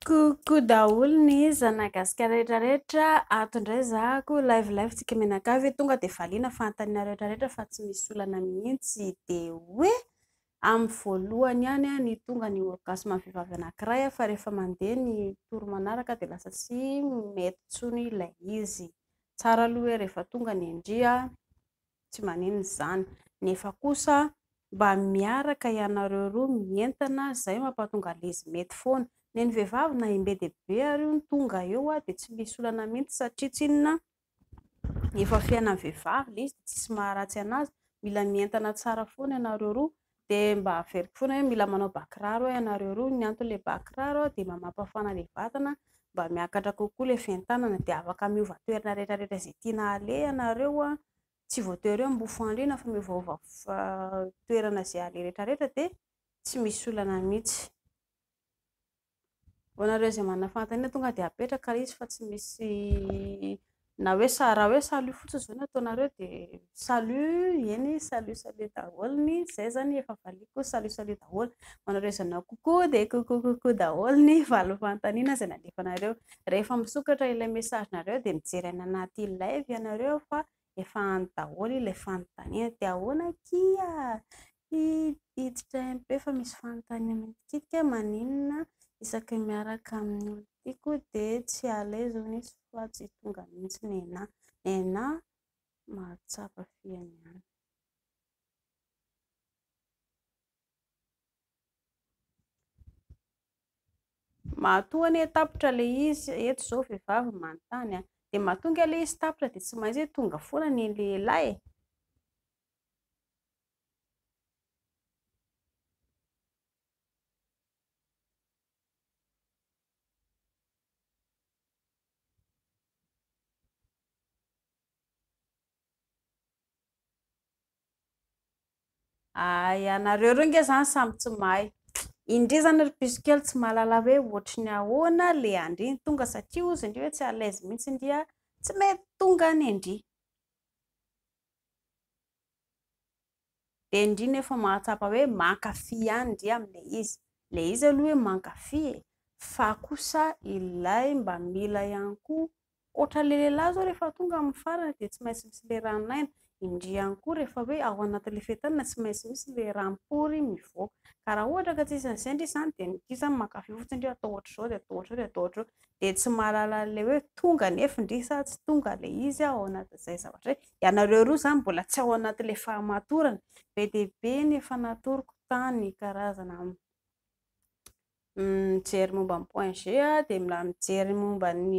Coucou daholo ny zanagasikara rehetra rehetra ato indray zahako live live tsika mianakavy tonga dia valiana fanontaniana rehetra rehetra fa tsy misy olana mihitsy dia hoe amin'ny voalohany ihany ny tonga ny orgasme vehivavy anankiray fa rehefa mandeha ny tour manaraka dia lasa tsy mety intsony ilay izy, tsara aloha hoe rehefa tonga ny ndry an! Tsy maninona izany. Nefa kosa mba miaraka ianareo roa mientana zay mapatonga lez mety foana. Neny vehivavy na im be dia be ary hono tonga eo a dia tsy misy olana mintsy satria tsy inona efa fiainan'ny vehivavy le izy dia tsisy maharatsy anazy. Mila mientana tsara foana ianareo roa Dia mba averiko foana hoe mila manao bà kiraro eo ianareo roa, ny anton'ilay bà kiraro dia mba mampafana ilay vatana, mba miakatra kokoa ilay fientanana, dia afaka miova toerana rehetra rehetra izay tiana aleha ianareo, tsy voatery hoe mifo andriana fa miovaova toerana izay aleha rehetra rehetra dia tsy misy olana mihintsy. Ho anareo izay manana fanontaniana tonga dia apetraka ilay izy fa tsy misy na hoe raha hoe salut fotsiny izao no ataonareo dia salut eny salut salut daholo ny izay izany efa valiako salut salut daholo, ho anareo izay nanao coucou dia coucou coucou daholo ny valo fanontaniana izay nalefanareo. Rehefa misokatra ilay message nareo dia mijery any anaty live ianareo fa efa any daholo ilay fanontaniana dia ahoana akia? Hi hiditra MP fa misy fanontaniana mitikitika maninona isaky miaraka amin'ny olona tiako dia tsy à l'aise hono izy fa tsy tonga mihitsy nenà nenà mahatsapa fihany ihany. Matoa anie tapitra le izy eto zao vehivavy manontany a! de matonga le izy tapitra de tsy maintsy hoe tonga foana ny lehilahy e! Ay anareo roa nge zany samy tsy mahay. Indri zany ry piso kely tsy mahalala hoe ohatry ny ahoana le andri ny tonga satria hozy indri hoe tsy à l'aise mihitsy indri a, tsy mety tonga any indri. dia indrindra efa mahatsapa hoe mankafy ihany ndry amin'ilay izy, ilay izy aloha hoe mankafy e! fa kosa ilay mba mila ihany koa, ohatran'ilay lehilahy izao rehefa tonga amin'ny farany dia tsy maintsy misy ilay ran'aina, indry ihany koa rehefa hoe ao anatin'ilay fetin'aina tsy maintsy misy ilay ram-pory mivoaka, ka raha ohatra ka tsy isan'izay ndry izany dia ny gisa mankafy fotsiny ndry atao ohatr'izao dia atao ohatr'izao dia atao ohatr'izao, dia tsy mahalala an'ilay hoe tonga anefa ndry sa tsy tonga ilay izy ao anatin'izay zavatra izay, Ianareo roa izany mbola tsy ao anatin'ilay fahamatorana. Be dia be ny efa natoroko tany karazana mijery momba ny point G dia mila mijery momba ny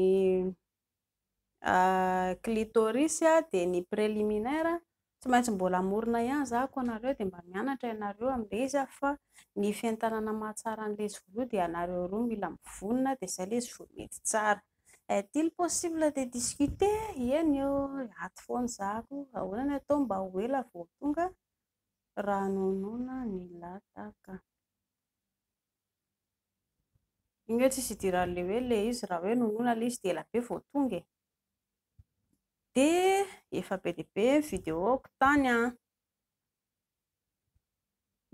clitoris dia ny préliminaire. Tsy maintsy mbola hamorona ihany izaho koa anareo dia mba mianatra ianareo amin'ilay izy fa ny fientanana mahatsara ny lezy voaloha dia ianareo roa mila mivonona dia izay ilay izy vao mety tsara. Est-il possible de discuter? Eny ô, ato foana za ko, ahoana ny atao mba ho ela vao tonga? Ranonona ny lataka. Iny hoe tsisy idiran'le hoe le izy raha hoe nonona le izy dia ela be vao tonga e. Dia efa be dia be ny video-ko tany an!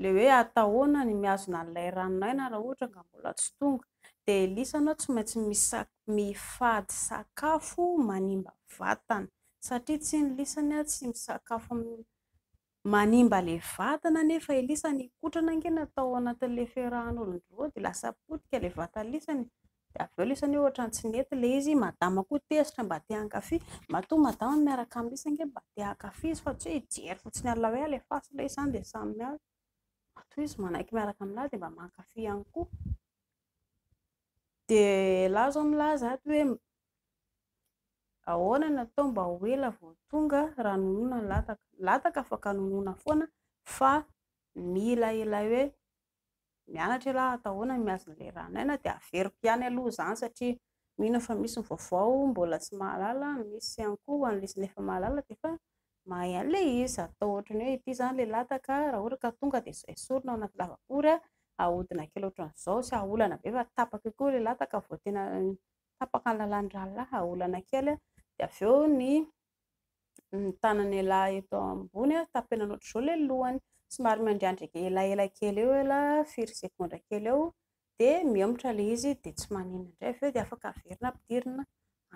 le hoe atahoana ny mihazona an'ilay ranon'aina raha ohatra ka mbola tsy tonga, dia Elisa anao tsy maintsy mifady sakafo manimba vatana satria tsy ny Elisa ny ahy tsy misakafo manimba ilay vatana nefa Elisa nikotrana ange natao anatin'ilay firahan'olon-droa dia lasa potika ilay vatan'i Elisa, Dia avy eo ilay izy anie ohatran'ny tsy nety ilay izy, madama koa tezitra mba te hankafy, matoa madama no miaraka amin'ilay izy ange mba te hankafy izy fa tsy hoe hijery fotsiny an'ilay hoe alefaso ilay izy izany dia samy miady, matoa izy manaiky miaraka amin'ahy dia mba mankafy ihany koa. Dia ialahy izao milaza ato hoe ahoana no atao mba ho ela vao tonga raha nonina ny lataka, ny lataka afaka nonina foana fa mila ilay hoe Mianatra ialahy atao ahoana ny mihazo ny leranay na dia averiko ihany aloha izany satria mino aho fa misy ny vaovao mbola tsy mahalala, misy ihany koa ho an'ilay izy ny efa mahalala dia efa mahay an'ilay izy, atao ohatran'ny hoe ity izany ilay lataka raha ohatra ka tonga dia izao esorina ao anaty lavapory an, ahodina kely ohatran'izao, tsy hahaolana be fa tapaka eo koa ilay lataka vao tena tapaka ny lalàn'ny rahalahy, ahaolana kely dia avy eo ny ny tanany ialahy eto ambony tapenana ohatr'izao ilay lohany, somary miandriandrika elaela kely eo ela firy segondra kely eo dia mihemotra ilay izy dia tsy maninona indray, avy eo dia afaka averina ampidirina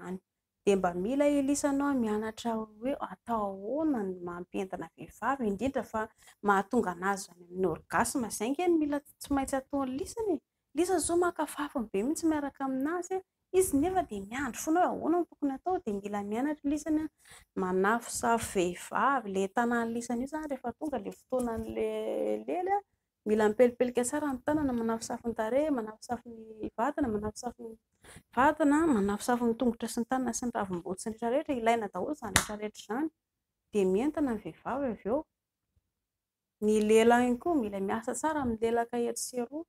any, dia mba mila Elisa anao mianatra hoe atao ahoana ny maha mpientina vehivavy indrindra fa mahatonga an'azy any amin'ny orgasme, izay ange no mila tsy maintsy ataon'i Lisany e! Lisa zao maka fafiny be mintsy miaraka aminazy a! Izy nefa dia miandry foana hoe ahoana no tokony atao dia mila mianatra i Lisany a! Manafosafo vehivavy le tanan'i Lisany io zany rehefa tonga le fotoanan'le lely a! Mila mipelipelika tsara ny tanana, manafosafo ny tarehy, manafosafo ny vatana, manafosafo ny vatana, manafosafo ny tongotra sy ny tanana sy ny ravim-body sy ny rehetra rehetra, ilaina daholo izany rehetra rehetra izany dia mientana ny vehivavy avy eo. Ny lela ihany koa mila miasa tsara milelaka etsy sy eroa.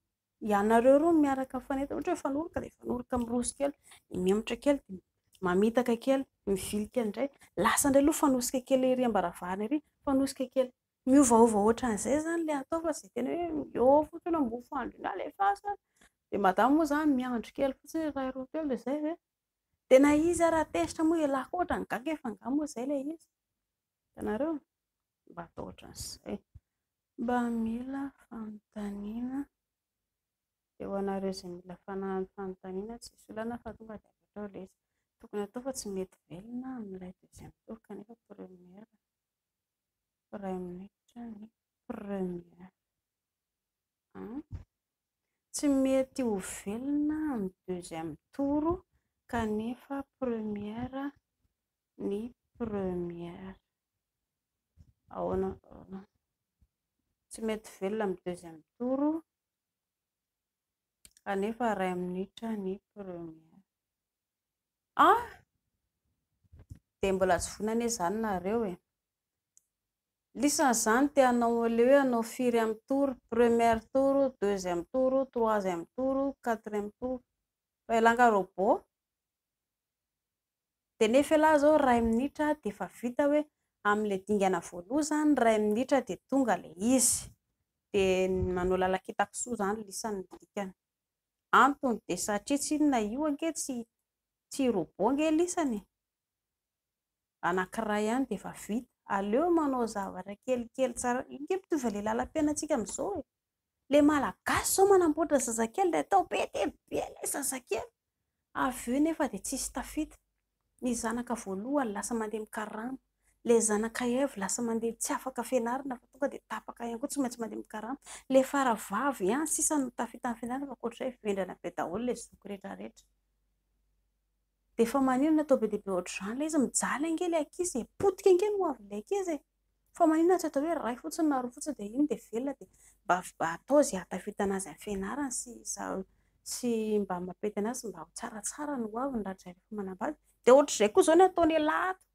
Ianareo roa miaraka mifanentana, ohatra hoe mifanoroka dia mifanoroka miroso kely, dia mihemotra kely, dia mamitaka kely, mivily kely indray. Lasa indray aloha fanosika kely ery am-baravarana ery, fanosika kely. Miovaova ohatran'izay izany ilay atao fa tsy dia tena hoe miôva fotsiny hoe mofo andry iny alefaso, dia madama moa izany miandry kely fotsiny hoe iray roa telo dia izay ve? Tena izy ary raha tezitra moa ialahy koa ohatran'ny gaga efa angaha moa izay ilay izy. Hitanareo? Mba atao ohatran'izay. Mba mila fanontaniana dia ho anareo izay mila fanahin'ny fanontaniana tsisy olana fa tonga dia avy hatrao ilay izy. Tokony atao fa tsy mety velona amin'ilay deuxième tour kanefa première iray minitra ny première an! Tsy mety ho velona amin'ny deuxième tour kanefa première ny première ahoana ahoana tsy mety velona amin'ny deuxième tour kanefa iray minitra ny première ah dia mbola tsy vonona anie izany nareo e lisany izany dia hanao ilay hoe hanao firy amin'ny tour première tour deuxième tour troisième tour quatrième tour fa ilay langa robot de nefa elah zao iray minitra de efa vita hoe amle dingana voaloha zany iray minitra de tonga le izy de manao lalakitakisoa zany lisany ny dikany antony de satria tsy inona io ange tsy tsy robot ange lisany e! anakiray ihany de efa vita aleo manao zavatra kelikely tsara io nge mitovy le lalampiainantsika amzao e! le malagasy zao manamboatra zazakely de atao be dia be ilay zazakely, avy eo nefa dia tsisy tafita, ny zanaka voalohany lasa mandeha mikarama, ilay zanaka heavy lasa mandeha tsy afaka fianarana fa tonga dia tapaka ihany koa tsy maintsy mandeha mikarama, ilay fara vavy ihany sisa no tafita amin'ny fianarana fa ankoatr'izay vendrana be daholo ilay zoky rehetra rehetra, dia efa maninona atao be dia be ohatr'izany ilay izy, mijaly ange ilay ankizy e, potika ange ny hoavin'ilay ankizy e. Fa maninona tsy atao hoe iray fotsiny na roa fotsiny dia iny dia velona dia mba mba atao izay ahatafitana azy amin'ny fianarany sy sy mba hamapetana azy mba ho tsaratsara ny ho aviny rahatrizay rehefa manambady dia ohatr'izay koa izao ny ataon'ialahy ato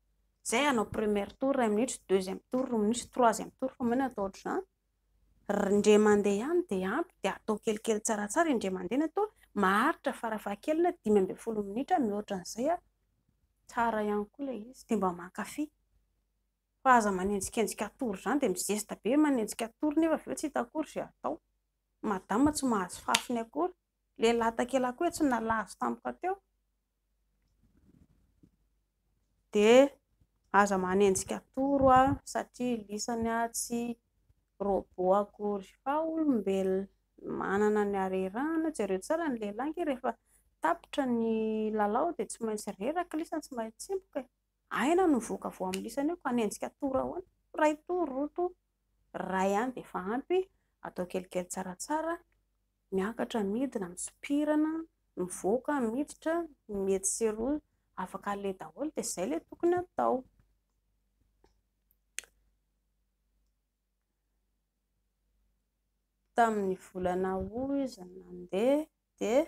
izay hanao première tour iray minitra deuxième tour roa minitra troisième tour fa maninona atao ohatr'izany indray mandeha ihany dia ampy dia atao kelikely tsaratsara indray mandeha ny atao maharitra farafahakeliny dimy ambin'ny folo minitra mihoatra an'izay an tsara ihany koa ilay izy dia mba mankafy Fa aza manenjikenjika atory izany dia mizesta be manenjika atory nefa avy eo tsy hita akory izay atao. Madama tsy mahazo fafiny akory. Lehilahy takelaka hoe tsy nalazo tampoka teo. Dia aza manenjika atory oa satria lisany tsy robot akory fa olombelona. Manana ny harerahana. Jereo tsara ny lehilahy ange rehefa tapitra ny lalao dia tsy maintsy reraka lisany tsy maintsy tsimboka e. Aina no voka vao amin'ny lisany eo ka hanenjika tour ahoana? Iray tour, roa tour, iray ihany dia efa ampy, atao kelikely tsaratsara, miakatra, midina, misopirana, mivoaka, miditra, ny etsy sy eroa afaka aleha daholo dia izay ilay tokony atao. tamin'ny volana août izy nandeha dia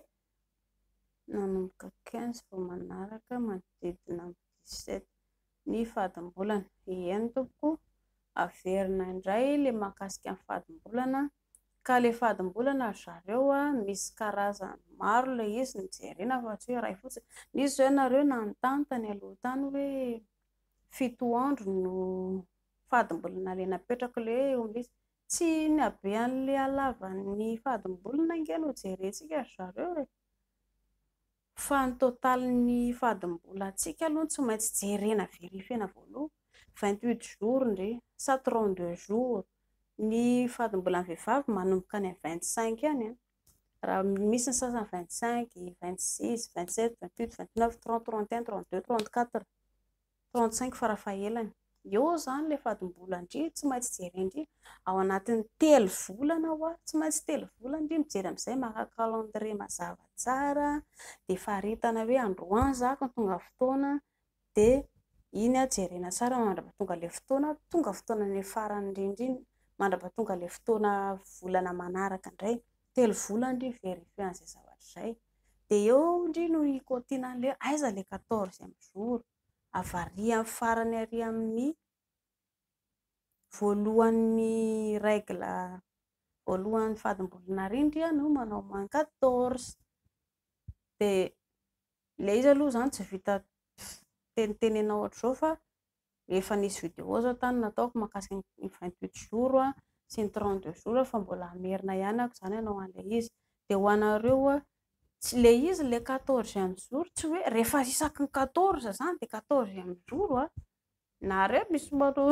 nanomboka quinze vao manaraka manodidina ny dix sept ny fadimbolana, eny tompoko o, averina indray ilay mahakasika ny fadimbolana, ka ilay fadimbolana ry zareo a, misy karazany maro ilay izy no jerena fa tsy hoe iray fotsiny, nisy izao ianareo nanontany tany aloha tany hoe fito andro no fadimbolana ilay napetrako ilay hoe ombiasy, Tsy ny habean'ilay halavan'ny fadim-bolony ange no jerentsika ry zareo e! Fa ny totalin'ny fadim-bolantsika aloha no tsy maintsy jerena verifiena voaloha. Vingt huit jours ndry sa trente deux jours ny fadim-bolan'ny vehivavy manomboka any amin'ny vingt cinq any an! Raha misy ny sasany vingt cinq, vingt six, vingt sept, vingt huit, vingt neuf, trente, trente et un, trente deux, trente quatre. Tao an-tsaiko farafahelany. Eo izany ilay fadim-bola ndry tsy maintsy jerena ndry ao anatin'ny telo volana hoa tsy maintsy telo volana ndry mijery amin'izay maka calendrier mazava tsara dia faritana hoe androany za ka tonga fotoana dia iny aho jerena tsara mandrapahatonga ilay fotoana tonga fotoana ilay farany indrindra iny mandrapahatonga ilay fotoana volana manaraka indray telo volana ndry vérifier an'izay zavatra izay dia eo ndry no i Continent le aiza le quatorzième jour? avarian'ny farany ary amin'ny voalohan'ny règle voalohan'ny fadim-bolana ary ndry no manao moins quatorze, dia ilay izy aloha izany tsy vita teniteny anao hatrizao fa efa nisy vidéo zao tany nataoko makasika ny vingt huit jours a sy ny trente deux jours fa mbola hamerina ihany ako zany anao anle izy de ho anareo a tsy le izy le quatorzième jour tsy hoe rehefa isaky ny quatorze zany de quatorzième jour a nareo misy manao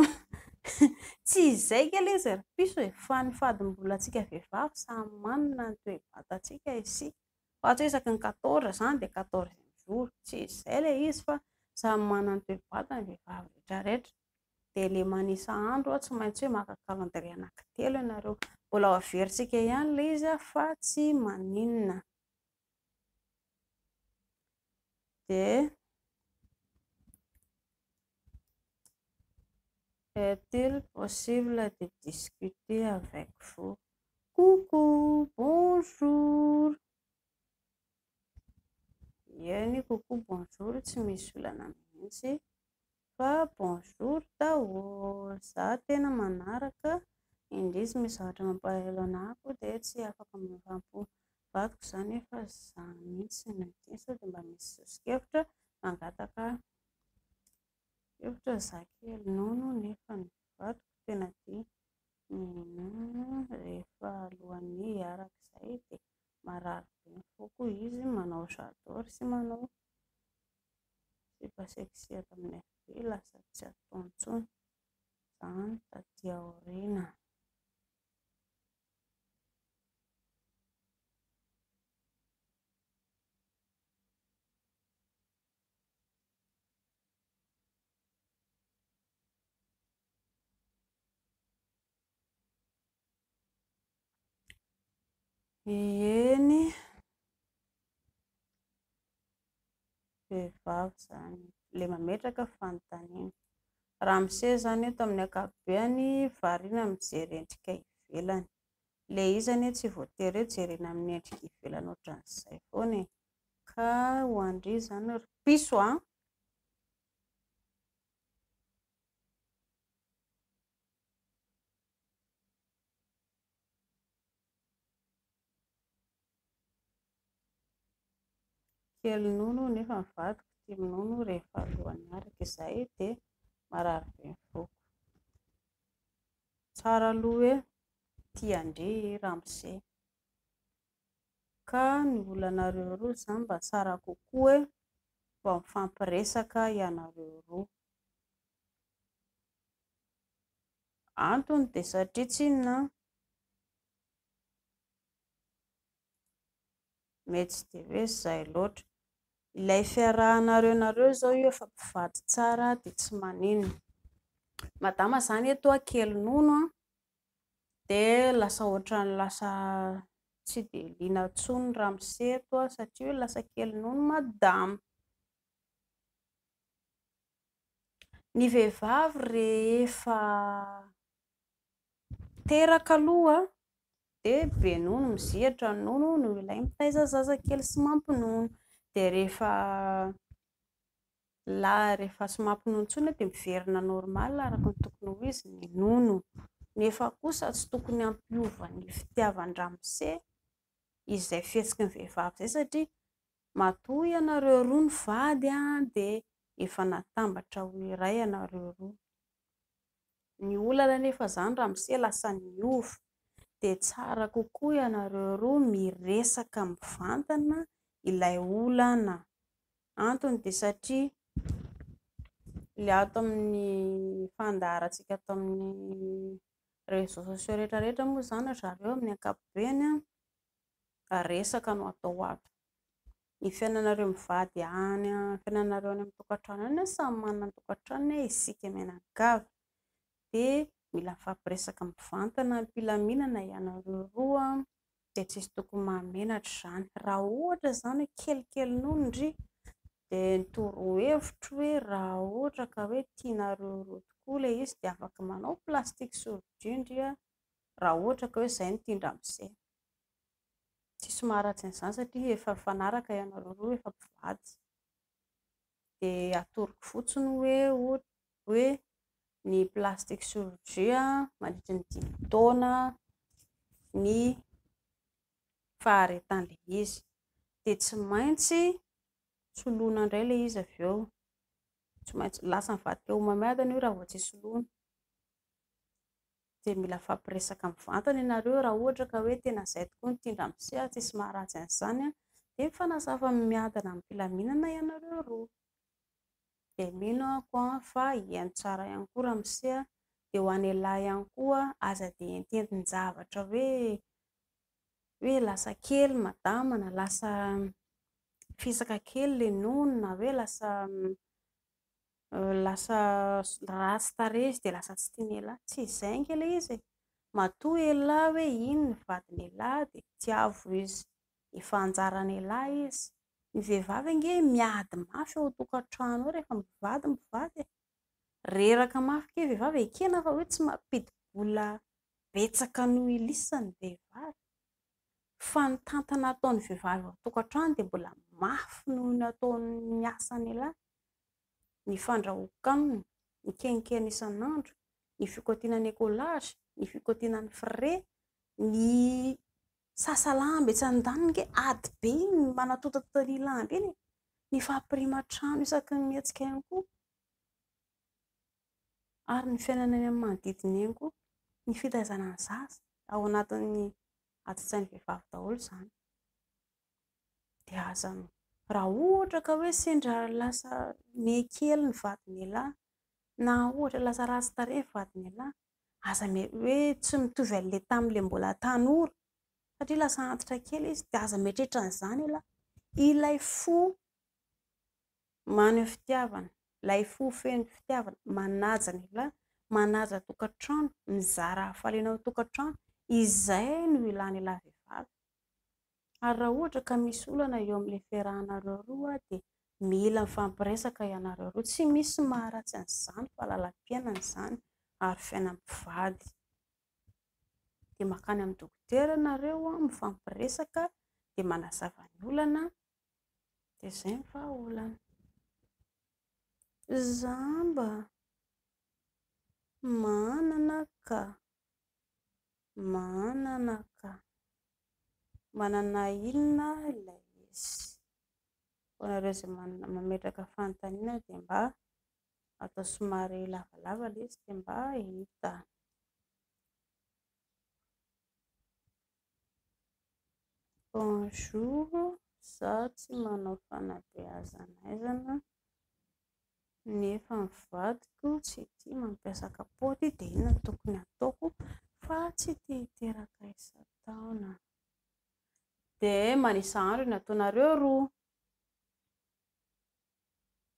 tsy izay nge le izy ry piso e fa ny fadimbolantsika vehivavy samy manana ny toe-batantsika isika Fa tsy hoe isaky ny quatorze izany dia quatorzième jour, tsy izay ilay izy fa samy manana ny toe-batany ny vehivavy rehetra rehetra. Dia ilay manisa andro tsy maintsy hoe maka calendrier anankitelo ianareo. Mbola ho averintsika ihany ilay izy fa tsy maninona. dia Est-il possible de discuter avec vous? Coucou, bonjour. Eny, coucou, bonjour tsy misy olana mihitsy. Fa bonjour daholo, za tena manaraka indrisy misy zavatra mampalahelo anah ko de tsy afaka miovam-po vadiko za nefa za mintsy no tia sao de mba misy soso-kevitra mangataka hevitra za kely nono nefa ny vadiko tena tia minono rehefa alohan'ny hiaraka zay de marary be ny foko izy manao j'adore sy manao Sipa sexy eto amin'ny FB lasa tsy atao intsony izany taty aoriana. Eny. vehivavy izany ilay mametraka fanontaniana. Ramose izany eto amin'ny ankapobeany variana mijery endrika ivelany. Ilay izy anie tsy voatery hoe jerena amin'ny endrika ivelany ohatran'izay foana e. Ka ho an-dry izany ry piso a! Kely nono nefa ny vadiko tia minono rehefa alohan'ny hiaraka, izahay dia marary be ny foko. Tsara aloha hoe tia an-dry i ramose. Ka ny olanareo roa izany mba tsara kokoa hoe mba mifampiresaka ianareo roa. Antony dia satria tsinona an. Mety tsy dia hoe izay loatra. Ilay fiarahanareo nareo izao io efa mpivady tsara dia tsy maninona. Madama izany eto kely nono dia lasa ohatran'ny lasa tsy dia liana intsony ny ramose eto satria hoe lasa kely nono madama. Ny vehivavy rehefa Teraka aloha dia be nono mizihatra ny nono noho ilay mitaiza zaza kely sy mampinono. Dia rehefa lany rehefa tsy mampinono intsony dia miverina normal araka ny tokony ho izy ny nono. Nefa kosa tsy tokony hampiova ny fitiavan-dramose izay fihetsiky ny vehivavy izay satria matoa ianareo roa no vady dia efa natambatra ho iray ianareo roa. Ny olana anefa izany ramose lasa niova, dia tsara kokoa ianareo roa miresaka mivantana ilay olana, antony dia satria ilay ato amin'ny fandaharantsika ato amin'ny réseaux sociaux rehetra rehetra moa izany ry zareo amin'ny ankapobeny resaka no atao ato. ny fiainanareo mivady any amin'ny fiainanareo any amin'ny tokantrano any an, samy manana ny tokantranony an, isika mianakavy dia mila mifampiresaka mivantana am-pilaminana ianareo roa dia tsy misy tokony mahamenatra izany, raha ohatra izany hoe kelikely nono ndry dia ny torohevitro hoe raha ohatra ka hoe tianareo roa tokoa ilay izy dia afaka manao plastique sous vide ndry an, raha ohatra ka hoe izay no tian-dramose. tsisy maharatsy an'izany satria efa mifanaraka ianareo roa, efa mpivady, dia atoroko fotsiny hoe hoe ny plastic chirurgie mandritry ny dimy taona ny faharetan'ilay izy, dia tsy maintsy soloina indray ilay izy avy eo, tsy maintsy, lasa mivadika homamiadana io raha vao tsy soloina Dia mila afampiresaka mivantana ianareo raha ohatra ka hoe tena izay tokoa ny tian-dRamose, tsisy maharatsy an'izany an! Dia mifanazava miadana amim-pilaminana ianareo roa. Dia mino aho an fa hihaino tsara ihany koa Ramose an! Dia ho an'ialahy ihany koa, aza dia ententin-javatra hoe hoe lasa kely madama na lasa fisaka kely ilay nono na hoe lasa Lasa ratsy tarehy izy dia lasa tsy tian'ialahy. Tsy izay ange ilay izy e! Matoa ialahy hoe iny ny vadin'ialahy dia tiavo izy. Efa anjaran'ialahy izy. Ny vehivavy ange miady mafy ao an-tokantrano ao rehefa mivady ny mpivady e! Reraka mafy kely ny vehivavy, ekena fa hoe tsy mampidi-bola betsaka noho ilissany ny vehivavy. fa ny tantana ataon'ny vehivavy ao an-tokantrano dia mbola mafy noho ny ataon'ny asan'ialahy, ny fandrahoan-kanina, ny kenikeny isan'andro, ny fikaotiana ny écolage, ny fikaotiana ny frais, ny sasa lamba etsy andaniny, ange ady be iny manatontatonta ny lamba iny e! ny fampirima trano isaky ny mihetsika ihany koa. ary ny fiainana eny amin'ny manodidina eny koa, ny fitaizana ny zaza ao anatin'ny ati-tsain'ny vehivavy daholo izany. Dia aza, raha ohatra ka hoe sendra lasa miha kely ny vadin'ialahy na ohatra lasa ratsy tarehy ny vadin'ialahy, aza hoe tsy mitovy amin'ilay tamin'ilay mbola tanora satria lasa antitra kely izy, dia aza mieritreritra an'izany ialahy. Ilay fo Maneho fitiavana, ilay fo feno fitiavana, manaja ny lehilahy, manaja tokantrano, mizara hafaliana ao an-tokantrano, izay no ilan'ilay vehivavy. Ary raha ohatra ka misy olana eo amin'ilay fiarahanareo roa dia mila mifampiresaka ianareo roa, tsy misy maharatsy an'izany fa lalam-piainana izany ary fiainam-pivady. Dia makany amin'ny dokotera ianareo mifampiresaka dia manazava ny olana Dia izay ny vahaolana. Izaho mba manana ka, manana ka. Manana inona ilay izy? Ho anareo izay mametraka fanontaniana dia mba atao somary lavalava ilay izy dia mba hita. Bonjour, izaho tsy manao fanabeazana aizana nefa ny vadiko tsy tia mampiasa kapoaka dia inona no tokony hataoko fa tsy te hiteraka isan-taona? Dia manisa andro ny ataonareo roa.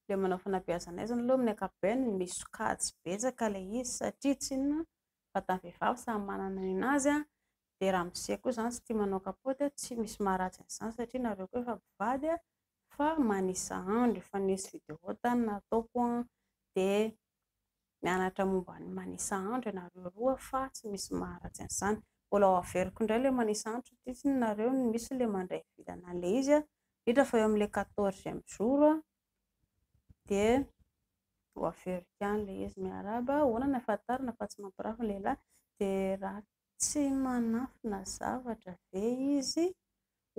le manao fanabeazana azy ny loha amin'ny ankapobeny misy sokajy betsaka ilay izy satria tsy inona fa ny vehivavy samy manana ny an'azy an, dia ramose koa izany tsy tia manao kapoty an, tsy misy maharatsy an'izany satria nareo koa efa mpivady an, fa manisa andro efa nisy vidéo tany nataoko an, dia mianatra momba ny manisa andro ianareo roa fa tsy misy maharatsy an'izany. Mbola ho averiko indray ilay manisa andro satria tsy nareo no misy ilay mandray vilana an'ilay izy indrindra fa eo amin'ilay quatorzième jour dia ho averiko ihany ilay izy. Miarahaba, ahoana no ahafantarana fa tsy mampirafy ny lehilahy dia ratsy. Tsy manafina zavatra ve izy?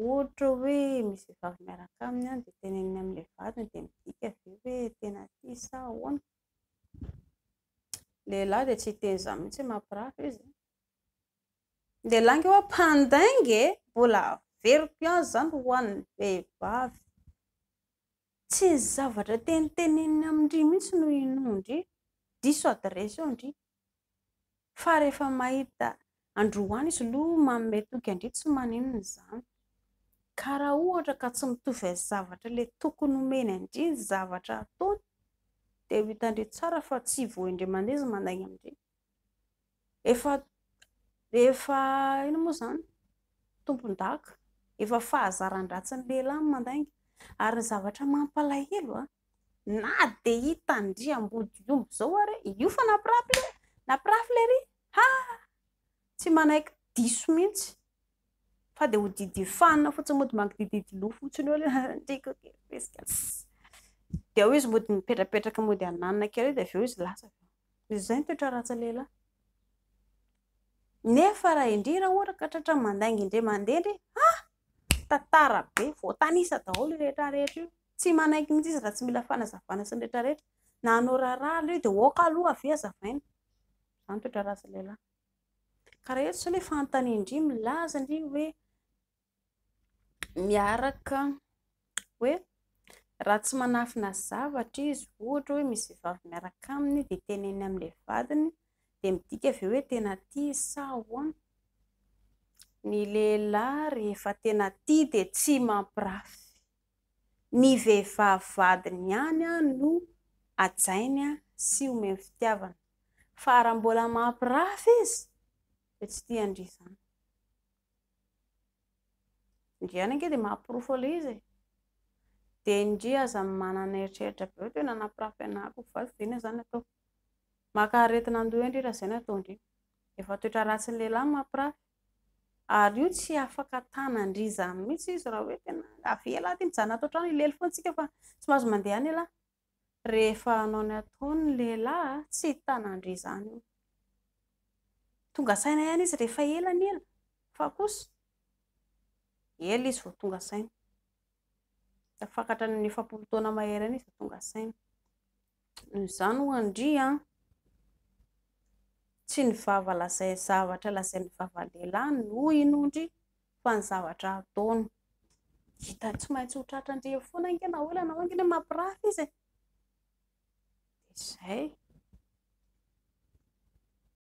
Ohatra hoe misy vehivavy miaraka aminy dia teneniny amin'ilay vadiny dia midika ve hoe tena tia sa ahoana? Ny lehilahy dia tsy hiteny izany mihitsy mampirafy izy an! Ny lehilahy ange ho'a mpandainga e! Mbola averiko ihany izany ho an'ny vehivavy. Tsy ny zavatra teniteneniny amin-dry mihitsy no inoan-dry, diso adiresy eo ndry, Fa rehefa mahita androany izy lo manome toky an-dry tsy maninona izany. Ka raha ohatra ka tsy mitovy amin'ny zavatra le tokony homeny an-dry ny zavatra ataony dia ho hitan-dry tsara fa tsy voain-dry aman-dry izy mandainga amin-dry. Efa efa inona moa izany? Tompon-daka. Efa fahazaran-dratsin'ny lehilahy ny mandainga. Ary ny zavatra mampalahelo an! Na dia hitan-dry Ambodiomby izao ary e! Io fa nampirafy le, nampirafy le ry! Ha! Tsy manaiky diso mihitsy. Fa dia ho Didier Fan fotsiny mody mangidididy loha fotsiny eo le Andriako kely fihesika. Dia ao izy mody mipetrapetraka mody hananina kely eo dia avy eo izy lasa. Izay ny toetra ratsy lehilahy. Nefa raha indry raha ohatra ka tratra mandainga indray mandeha indry, ha! Tantara be, voatanisa daholo io rehetra rehetra io. Tsy manaiky mihitsy izy raha tsy mila fanazavana sy ny rehetra rehetra. Na hanao raharaha aloha io dia ok aloha avy eo azavaina. Izany toetra ratsy lehilahy. Ka raha eto izao ilay fanontanian-dry milaza ndry hoe miaraka hoe raha tsy manafina zavatra izy ohatra hoe misy vehivavy miaraka aminy dia teneniny amin'ilay vadiny dia midika ve hoe tena tia izy sa ahoana? Ny lehilahy rehefa tena tia dia tsy mampirafy. Ny vehivavy vadiny ihany no hajainy sy omeny fitiavana. Fa raha mbola mampirafy izy dia tsy tian-dry izany. Ndry ihany ange dia mahaporofo ilay izy e! Dia ndry aza manana eritreritra be hoe tena nampirafy anah ko fa inona izany no ataoko? Maka aretina an-doha ndry raha izay no ataon-dry. Efa toetra ratsin'ny lehilahy ny mampirafy. Ary io tsy afaka tanan-dry izany mihitsy izy raha hoe tena avela aty mijanona ato an-trano, hilely foana isika fa tsy mahazo mandeha ny lahy. Rehefa hanao ny ataony ny lehilahy, tsy tanan-dry izany io. Tonga saina ihany izy rehefa ela ny ela, fa kosa ela izy vao tonga saina. Tafakatra ny efapolo taona mahery any izy vao tonga saina. Izany ho'a ndry an! Tsy ny vava lazai zavatra lazain'ny vava lehilahy no ho'a i no ndry fa ny zavatra ataony. Hitany tsy maintsy ho tratra ndry eo foana ange na hoela na hoenga ndry mampirafy izy e! Dia izay.